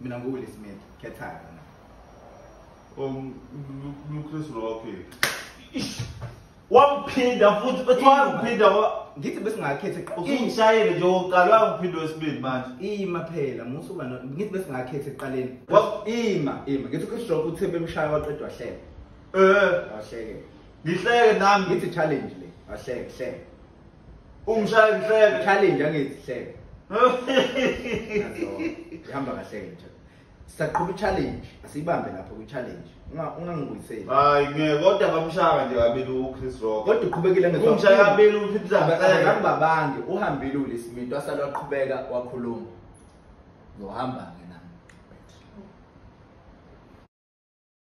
mina nguwilli smith khethayo na um luchris rocky wamphinda futhi bethi wamphinda ngithi besingakhethe usungishayele nje wokuqala wangiphinda wesibili manje ima phela musa uba ngithi besingakhethe ekuqaleni ima ima ngithi uchris rock uthe bemshaya waqeda wahleka um wahleke ngihleke nami ngithi challenge le wahleke hleke Ungishaya ngihleke. Challenge angithi hleke. Ihamba kahle nje. Saqhuba challenge, asiyibambe lapho ku challenge. Unga ungangibuyiseli. Hayi ngeke kodwa bamshaka nje kabili u Chris Rock. Kodwa uqhubekile ngeke. Umshaya kabili u Phiphiza. Akabambange, uhambile uLisiminto asalwa qhubeka wakhuluma. Ngohamba